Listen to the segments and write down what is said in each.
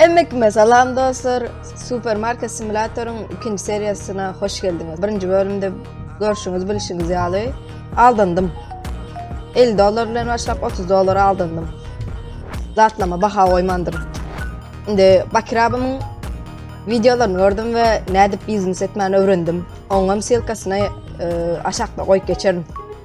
Emmekime salam dostlar. Supermarket simulatoryň ikinji seriýasyna hoş geldiňiz. Birinji bölümde görşüňiz, bilişiňiz ýaly aldandym. 50 dollar bilen başlap 30 dollar aldandym. Zatlama baha goýmandym. Indi Bakir abymyň videolaryny gördüm we nädip biznes etmäni öwrendim. Oňam silkasyny e, aşakda goýup geçerin.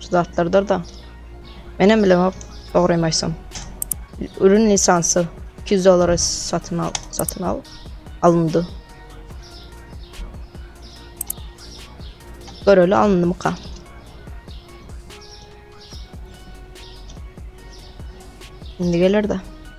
Şu zatlardyr da. Menem bilemok dogrymy aýtsam. Ürün lisansy 200 dollara satyn al, satyn al alındı. Göreli alındı mı ka? Şimdi gelir de.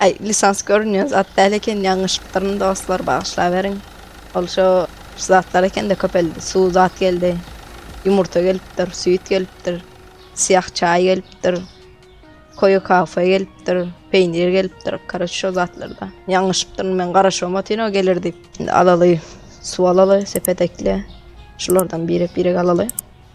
Aý lisans görünýän zat däl eken ýalňyşypdyryn dostlar bagyşlaberiň ol şo şu zatlar ekende köpeldi suw zat geldi ýumurta gelipdir süýt gelipdir syýah çaý gelipdir koýa kafe gelipdir peýnir gelipdir karoç şo zatlarda ýalňyşypdyryn men garaşybam otyn o geler diýip indi alaly suw alaly sepet ekle şulardan birek birek alaly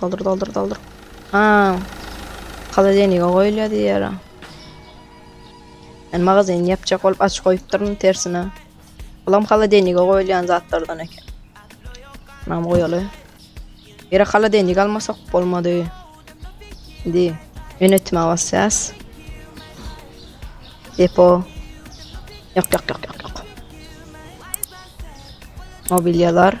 Doldur doldur doldur. Ha. Haladenika goýulýar diýýär. Men magazin ýapjak bolup aç goýupdyryn tersine. Bulam haladenika goýulýan zatlardan eken. Nam goýaly. Ýere haladenik almasak bolmady. Indi ýönetmä basýas. Depo. Ýok ýok ýok ýok ýok. Mobilýalar.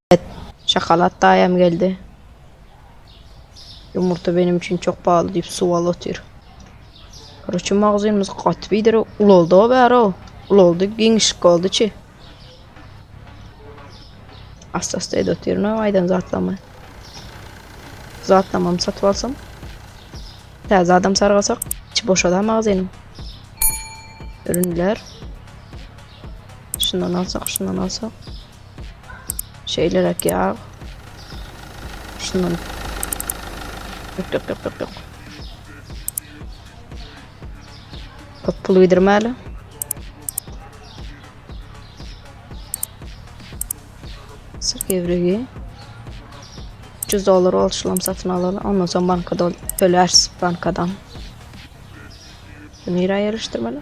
Şokolad daýam geldi. Ýumurta benim üçin çok pahaly diýip suw alyp otyr. Roçy magazynymyz gaty bidir ulaldy o bäri o. Ulaldy, giňişlik boldy çi. Asta-asta edip otyryn o aýdan zatlama. Zatlamam satyp alsam. Täze adam sargasak, içi boşada magazynyň. Ürünler. Şundan alsak, şundan alsak. Şeýleräk ýag. Şundan. Ýok, ýok, ýok, ýok, ýok. Köp pul gidirmäli. Sır gevrigi. 300 dolar olşulam satyn alaly. Ondan soň bankadan tölärs bankadan. Nirä ýerleşdirmeli?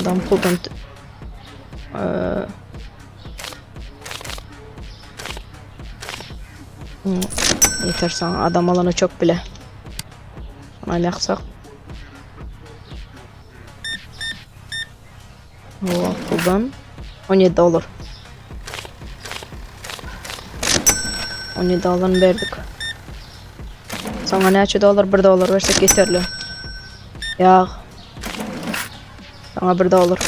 Adam puldan ee, Yeter sana adam alanı çok bile. Buna yaksak. Ooo, puldan 17 dolar. 17 dolarny berdik. Sana näçe dolar? 1 dolar versek yeterli. Yağ. Sana 1 dolar.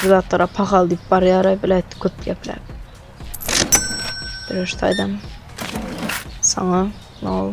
Bu zatlara pahal deyip bar yara bile etti köp gepler. Dürüş taydam. Sana ne no.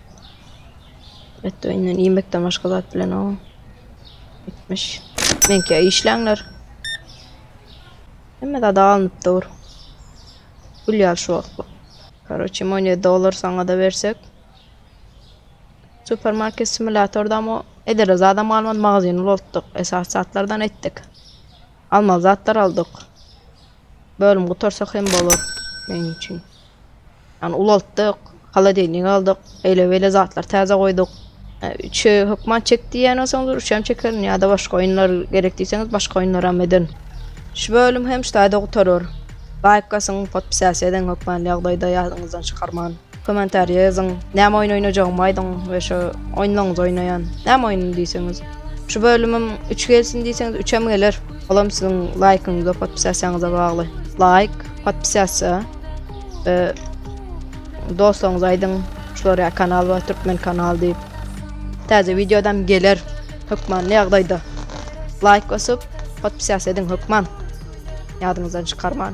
Et öýünden iýmekden başga zat bilen o. Etmiş. Menki işlänler. Hemme zada alnyp dur. Gül ýal şu wagt bu. Karoçi money dollar saňa da bersek. Supermarket simulatorda ama edere zada malman magazin ulotduk. Esas zatlardan etdik. Alma zatlar aldık. Bölüm gutarsak hem bolar. Benim için. Ýagny ulaltdyk, holodennik aldyk, eýle-beýle zatlar täze goýduk. Üçe hökman çek diýýän bolsaňyz, üçem çekerin ýa-da başga oýunlar gerek diýseňiz, başga oýunlaram ederin. Şu bölüm hem şu taýda gutarar. Laýk basyň, podpisasiýa ediň hökman ýagdaýda ýadyňyzdan çykarman. Kommentariýa ýazyň, näme oýun oýnajagymy aýdyň we şu oýunlaryňyzy oýnaýan. Näme oýnuny diýseňiz. Şu bölümim üç gelsin diýseňiz, üçem geler. Olam siziň laýkyňyza, podpisasiýaňyza bagly. Laýk. Podpisýasiýa e, dostlaryňyza aýdyň, şulara kanal bar, türkmen kanal diýip. Täze wideodam geler hökmanly ýagdaýda. Laýk basyp, podpisýasiýa ediň hökman. Ýadyňyzdan çykarman.